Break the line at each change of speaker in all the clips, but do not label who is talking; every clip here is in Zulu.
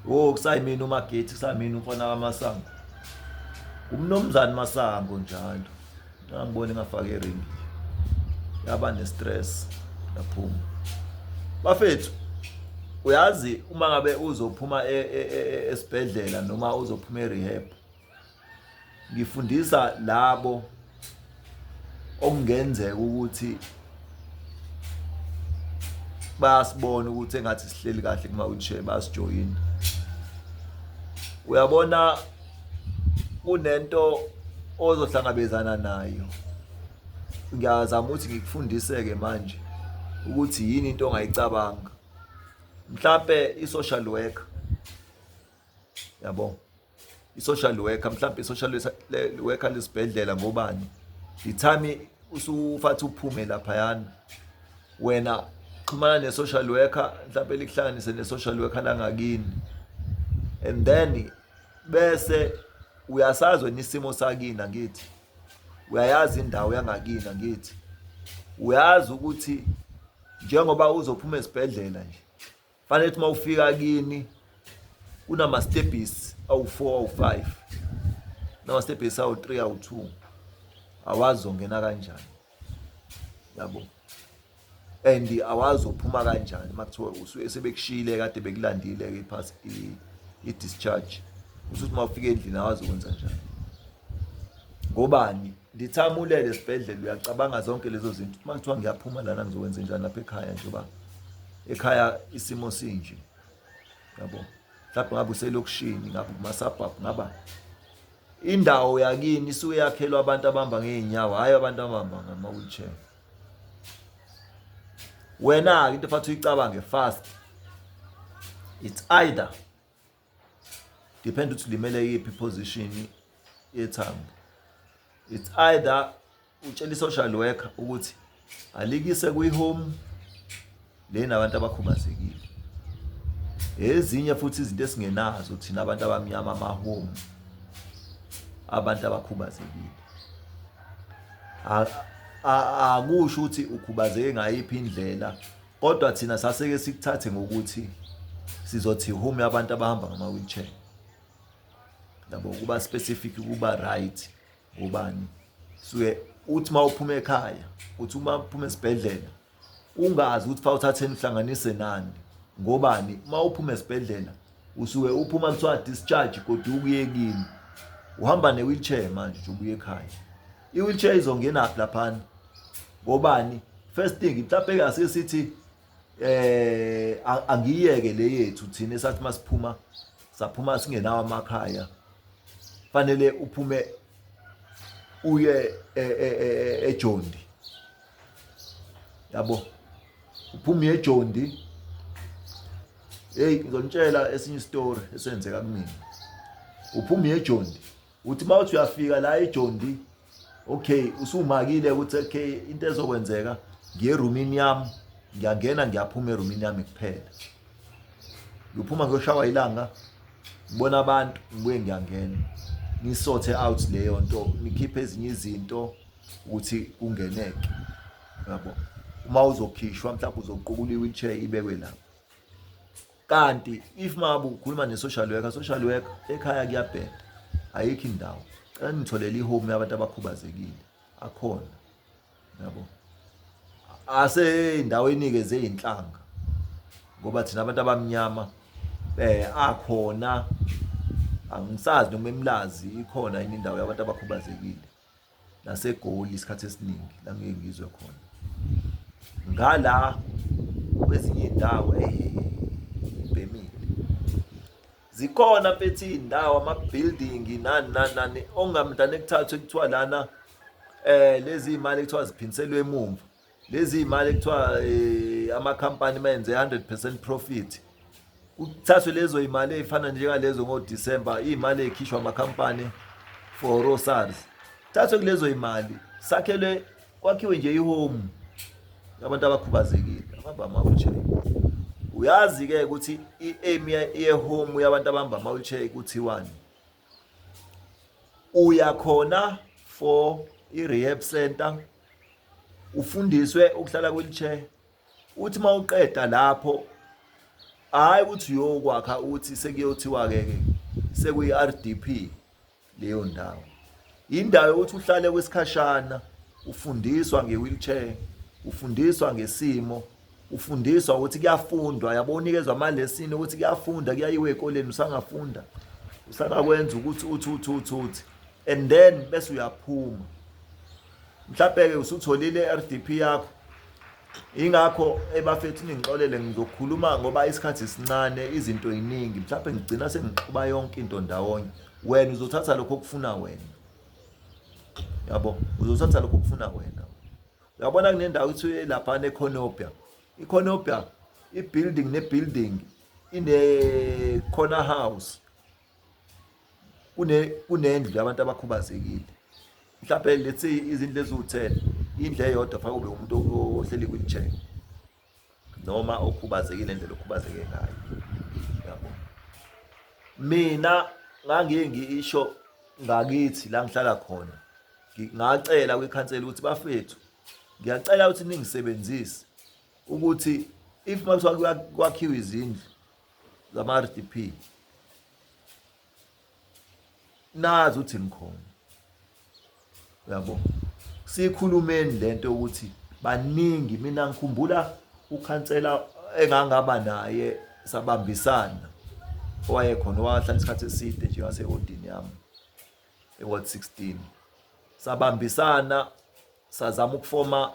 wo kusayimini umagethi kusayimini umfana kamasango umnomzane masango njalo angiboni ngafaka iringi yaba nestress yaphuma bafethu uyazi uma ngabe uzophuma e, e, e, esibhedlela noma uzophuma erehab ngifundisa labo okungenzeka ukuthi bayasibona ukuthi engathi sihleli kahle kuma wheelchair basijoyina uyabona kunento ozohlangabezana nayo ngiyazama ukuthi ngikufundiseke manje ukuthi yini into ongayicabanga mhlambe i-social worker yabo i-social worker mhlawumbe i-social worker lesibhedlela ngobani the time usufathi uphume laphayana wena xhumana ne-social worker mhlawumbe likuhlanganise ne-social worker langakini and then bese uyasazi wena isimo sakini angithi uyayazi indawo yangakini angithi uyazi ukuthi njengoba uzophuma esibhedlela nje fanele ukuthi uma ufika kini kunamastebhisi awu-four awu-five namastebhisi awu-three awu-two awazi ongena kanjani yabo and awazi uphuma kanjani uma kuthiwa usuke sebekushiyile kade bekulandile-ke iphasi i-discharge usuthi uma ufika endlini awazi ukwenza njani ngobani ndithi abulele esibhedlela uyacabanga zonke lezo zinto uma kuthiwa ngiyaphuma lana ngizokwenza njani lapha ekhaya njengoba ekhaya isimo sinje yabo mhlawumbe ngabe uselokishini ngabe kumasabhabhu ngaba indawo yakini isuke yakhelwa abantu abahamba ngey'nyawo hhayi abantu abahamba ngama-wheelchair wena-ke into efathi uyicabange fast it's either depend ukuthi limele yiphi position yethambo it's either utshela i-social worker ukuthi alikise kwi-home lena abantu abakhubazekile ezinye futhi izinto esingenazo thina abantu abamnyama amahome abantu abakhubazekile akusho ukuthi ukhubazeke ngayiphi indlela kodwa thina saseke sikuthathe ngokuthi sizothi home abantu abahamba ngama wheelchair yabo kuba specific kuba right ubani suke uthi mawuphuma ekhaya uthi uma uphuma esibhedlela ungazi ukuthi fa uthatheni uhlanganise nani ngobani uma uphuma esibhedlela usuke uphuma kuthiwa discharge kodwa ukuyekini uhamba ne wheelchair manje ubuye ekhaya I-wheelchair izongenaphi laphana ngobani first thing mhlawumbe kase sithi eh angiyeke le yethu thina esathi masiphuma saphuma singenawo amakhaya fanele uphume uye e, e, e, ejondi yabo uphume ejondi hey ngizonitshela esinye story esenzeka kumina uphume ejondi uthi uma uthi uyafika la ejondi okay usumakile ukuthi okay into ezokwenzeka ngiye roomini yami ngiyangena ngiyaphuma eroomini yami kuphela ngiphuma ngiyoshawa ilanga ngibona abantu ngibuye ngiyangena nisothe out leyo nto nikhiphe ezinye izinto ukuthi kungeneke yabo uma uzokhishwa mhlawumbe uzoqukula i-wheelchair ibekwe lapho kanti if mabu ukhuluma ne social worker social worker ekhaya kuyabheda ayikho indawo cela nitholele ihome yabantu abakhubazekile akhona yabo ase indawo enikeze inhlanga ngoba thina abantu abamnyama eh akhona angisazi noma emlazi ikhona yini indawo yabantu abakhubazekile naseGoli isikhathi esiningi la ngeke ngizwe khona ngala kwezinye indawo ebhemile zikhona mfethu iy'ndawo ama-building nani nani nani ongamntana ekuthathwe kuthiwa lana um lezi y'mali ekuthiwa ziphindiselwe emumva lezi imali ekuthiwa eh, ama company menze 100% profit kuthathwe lezo imali ezifana njengalezo ngo December imali ekhishwa ama company for Rosars thathwe kulezo imali sakhelwe kwakhiwe nje ihome abantu abakhubazekile abamba ama wheelchair uyazi ke ukuthi i aim ye home yabantu abamba ama wheelchair kuthiwani uya khona for i rehab center ufundiswe ukuhlala kwi-wheelchair uthi uma uqeda lapho hhayi ukuthi uyokwakha uthi sekuyothiwa-ke ke sekuyi-r d p leyo ndawo yindawo yokuthi uhlale kwesikhashana ufundiswa nge-wheelchair ufundiswa ngesimo ufundiswa ukuthi kuyafundwa yabo unikezwa amalesini ukuthi kuyafunda kuyayiwe ekoleni usangafunda usangakwenza ukuthi uthi uthi uthi uthi and then bese uyaphuma mhlawumbe-ke usutholile i-r d p yakho ingakho ebafethu ningixolele ngizokhuluma ngoba isikhathi sincane izinto yiningi mhlawumbe ngigcina sengixuba yonke into ndawonye wena uzothatha lokho okufuna wena yabo uzothatha lokho okufuna wena uyabona kunendawo kuthiwa lapha nekhonopia ikhonopia i-building ne-building ine-corner house kune kunendlu yabantu abakhubazekile mhlawumbe let's say izindlu eziwu-ten indlu eyodwa fanele kube umuntu ohleli kwi-wheelchair noma okhubazekile indlela okhubazeke ngayo yabo mina ngangiye ngisho ngakithi la ngihlala khona ngacela kwikhansela ukuthi bafethu ngiyacela ukuthi ningisebenzise ukuthi if makuthiwa kwakhiwa izindlu zama-RDP nazi ukuthi ngikhona uyabo sikhulumeni lento ukuthi baningi mina ngikhumbula ukhansela engangaba naye sabambisana owayekhona owahlala isikhathi eside nje wasewodini yami eward 16 sabambisana sazama ukufoma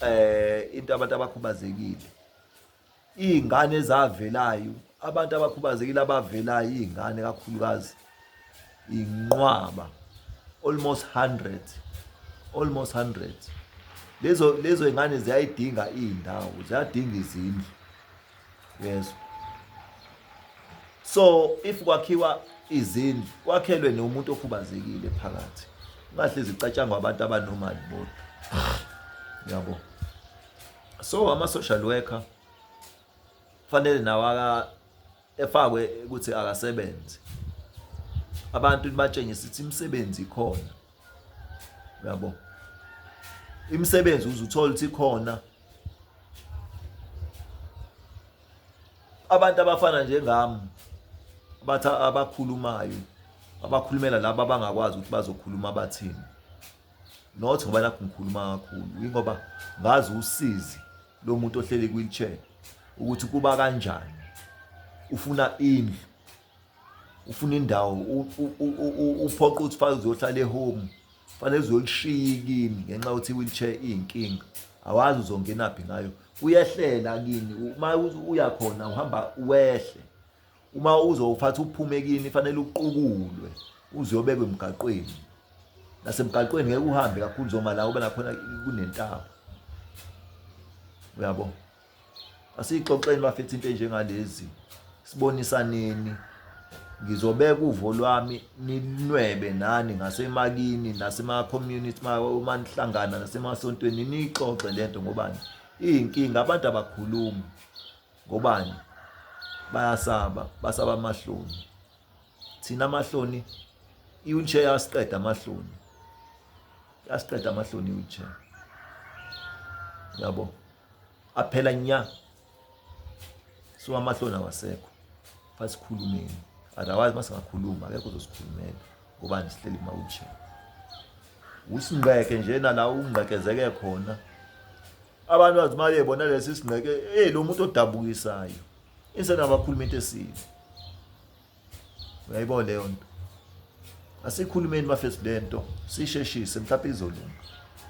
eh into abantu abakhubazekile iy'ngane ezavelayo abantu abakhubazekile abavelayo iy'ngane kakhulukazi inqwaba almost 100 almost 100 lezo lezo ingane ziyayidinga indawo ziyadinga izindlu yes so if kwakhiwa izindlu kwakhelwe nomuntu okhubazekile phakathi ungahlezi icatshangwa abantu abanomali bodwa yabo So ama social worker fanele nawo aka efakwe ukuthi akasebenze. Abantu batshengisa ukuthi imisebenzi ikhona. Uyabo? Imisebenzi uzuthola ukuthi ikhona. Abantu abafana njengami bathi abakhulumayo abakhulumela laba abangakwazi ukuthi bazokhuluma bathini. not ngoba nakho ngikhuluma kakhulu yingoba ngazi usizi lo muntu ohleli kwi-wheelchair ukuthi kuba kanjani ufuna indlu ufuna indawo uphoqa ukuthi fanele uzohlala ehome fanele uzolishiya kini ngenxa yokuthi i-wheelchair iyinkinga awazi uzongenaphi ngayo uyehlela kini uma uya khona uhamba wehle uma uzowuphatha uphume kini fanele uqukulwe uziyobekwa emgaqweni nasemgaqweni ngeke uhambe kakhulu zoma la ube nakhona kunentaba uyabo asiyixoxeni bafethu into enjengalezi sibonisaneni ngizobeka uvo lwami ninwebe nani ngasemakini nasema-community uma nihlangana nasemasontweni niyixoxe le nto ngobani iyinkinga abantu abakhulumi Ngobani? Bayasaba, basaba amahloni. Thina amahloni i-wheelchair yasiqeda amahloni. Yasiqeda amahloni i-wheelchair. Yabo. Aphela nya. So amahloni awasekho. Fasikhulumeni. Otherwise masingakhuluma akekho uzosikhulumela. Ngobani sihleli kuma-wheelchair. Usingqeke nje nala ungqekezeke khona. abantu bathi uma bebona lesi sineke eyi lo muntu odabukisayo insena abakhuluma into esibi uyayibona leyo nto asikhulumeni bafethu le nto sisheshise mhlawumbe izolunga